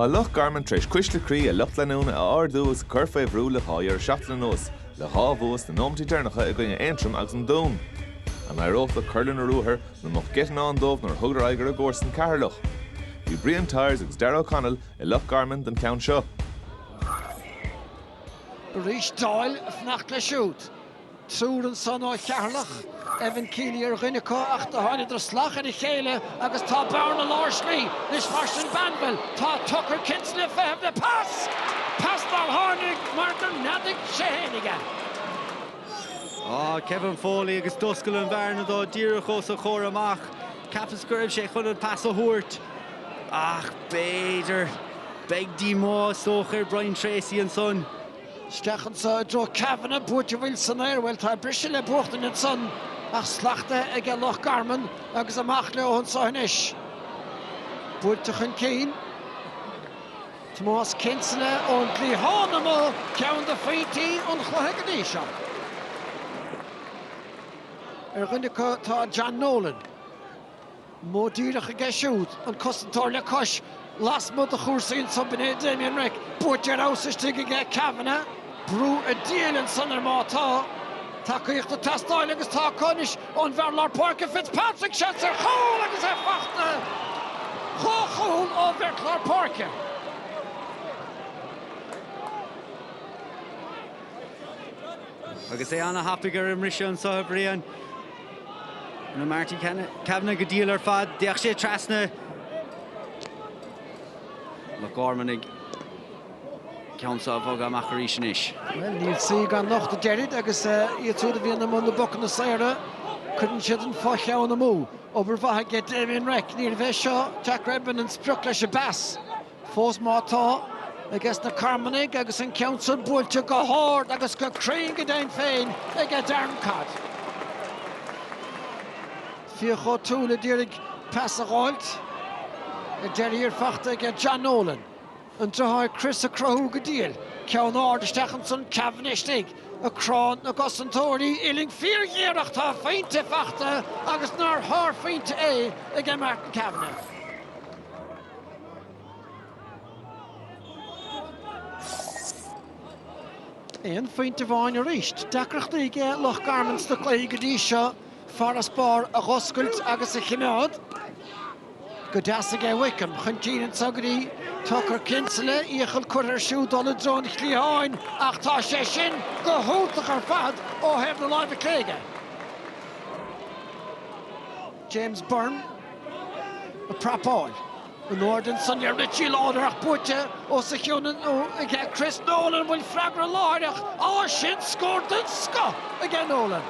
Tá Loch Garman tar éis cuisle croí a lucht leanúna a ardú agus a cur faoi bhrú le dhá dheireadh seachtaine anuas, le dhá bhua sna nóimeantaí deireanacha i gcoinne Aontroim agus an Dún. An n-éireodh leo cur lena ruathar nó an mbeadh geit i ndán dóibh nuair a thugadar aghaidh ar a gcomharsain Ceatharlach? Bhí Brian Tyers agus Darragh O'Connell i Loch Garman don cheann seo. Arís Doyle ag fanacht leis siúd. Triúr ansan ó Cheatharlach, Evan Kealy ar dhuine acu, ach do thángadar salach ar a chéile agus tá bearna lár slí anois mar sin Banville, tá Tucker Kinsella ag feitheamh le pas! Pas nár tháinig mar do neadaigh sé fhéinig é. Kevin Foley agus d'oscail an bhearna dó díreach os a chomhair amach. Cheapas go raibh sé chun an pas a thabhairt ach b'fhéidir, beidh díomá is dócha ar Brian Tracey ansan. Isteach anso i dtreo Kavanagh, buaite, an bhfuil, san aer, bhuel, tá an briseadh le buachtaint ansan, ach slachtaithe aige Loch Garman agus amach leo anso anois. Buailte chun cinn. Tomás Kinsella ón gcliathán amuigh, ceann de phointí an chluiche go dtí seo. Ar dhuine acu tá John Nolan. Modh díreach aige siúd, an cosantóir le cois, lasmuigh de chúrsaí anso, b'in é Damien Reck. Buaite ar fheabhas istigh aige Kavanagh. Brú an diabhail ansan air má tá. Tacaíocht ag teastáil agus tá acu anois ón bhfear lár páirce Fitzpatrick. Seans ar chúl agus é fachta. Dhá chúl ó bheirt lár páirce. Agus é ana-thapaidh ar an mbriseadh anso a Brian. Rinne Marty Kavanagh go diail ar fad, d'fhéach sé trasna Loch Garman an ceann so á bhogadh amach arís anois. Bhuel, níl saoi gan locht, a deirid, agus iad siúd a bhíonn i mbun na bpocanna saora, cuireann siad an fo-cheann amú. Obair mhaith aige Damien Reck, níorbh é seo Jack Redmond an sprioc leis an bpas. Fós má tá, aige sna Carmanaigh agus an ceann san buailte go hard agus go cruinn go deimhin féin aige Darren Codd. Fiach O'Toole a d'iarraidh pas a dh'fháilt. Ar deireadh thiar fachta aige John Nolan. An driotháir Chris ag cruthú go diail. Ceann ard isteach ansan Kavanagh istigh ag crá na gcosantóirí uillinn fíorghéar ach tá a phointe fachta agus nár shárphointe é aige Martin Kavanagh. Aon phointe amháin arís. Deacrachtaí aige Loch Garman sna cluichí go dtí seo, farasbarr a dh'oscailt agus a chimeád. Go deas aige Wickham chun cinn anso go dtí Tucker Kinsella, iachall curtha air siúd dul i dtreo an chliatháin ach tá sé sin go hiontach ar fad ó thaobh na láimhe clé aige. James Byrne a prapáil. In airde ansan ag Richie Lawlor ach buaite os a chionn aige Chris Nolan bhfuil freagra láithreach á sin scór den scoth aige Nolan.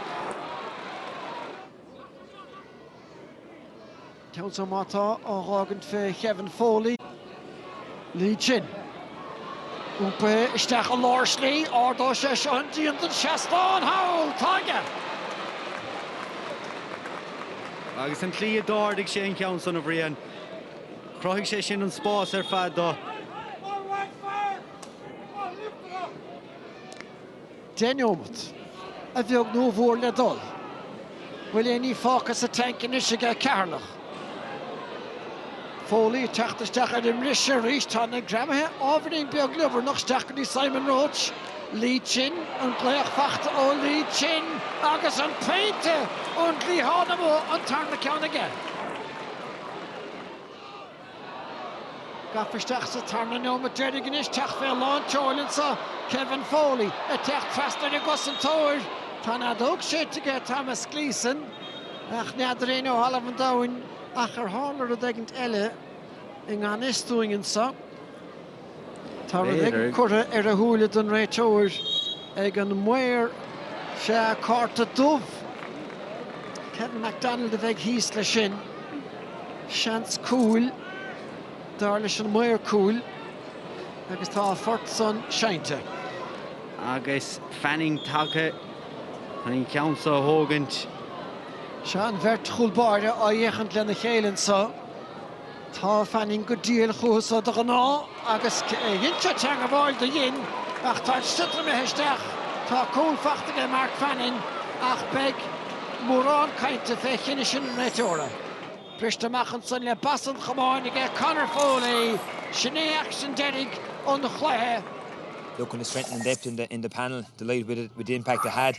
Ceann so má tá á dh'fhágaint fé Kevin Foley. Lee Chin. Iompaithe isteach i lár slí, ardóidh sé seo an díon den seastán thall! Tá aige! Agus an tslí a d'ardaigh sé an ceann san, a Bhriain, chruthaigh sé sin an spás ar fad dó. 10 neomat. A bheag nó a mhór le dul. Bhfuil aon ní fágtha sa tank anois aige Ceatharlach? Foley ag teacht isteach ar an mbrise arís. Tá na greamaithe ábhairín beag liobarnach. Isteach go dtí Simon Roche. Lee Chin. An glaoch faighte ó Lee Chin agus an pointe ón gcliathán amuigh an tarna ceann aige. Gafa isteach sa tarna nóiméad deiridh anois, teacht fé lán tseoil anso, Kevin Foley ag teacht trasna ar an gcosantóir. Tá an fheadóg séite aige, Thomas Gleeson, ach n'fheadar éinne ó thalamh an domhain ach ar tharla rud éigint eile i ngan fhios dúinn anso. Tá rud éigin curtha ar a shúile don réiteoir ag an maor. Sea, cárta dubh. Kevin McDonald a bheidh thíos leis sin. Seans cúil, dar leis an maor cúil, agus tá a phort san seinnte. Agus Fanning tagtha chun an ceann seo a thógaint. Seo an bheirt chúl báire á dh'fhéachaint lena chéile anseo. Tá Fanning go diail chúthu so de ghnáth agus dhein sé teagmháil do dhein ach tá an sliotar imithe isteach. Tá cúl faighte aige Mark Fanning ach beidh mórán cainte fé chinneadh sin an réiteora. Briste amach ansan le bas an chamáin aige Conor Foley, sin é aicsean deiridh an chluiche. Look on the strength and depth in the panel, delighted with the impact it had.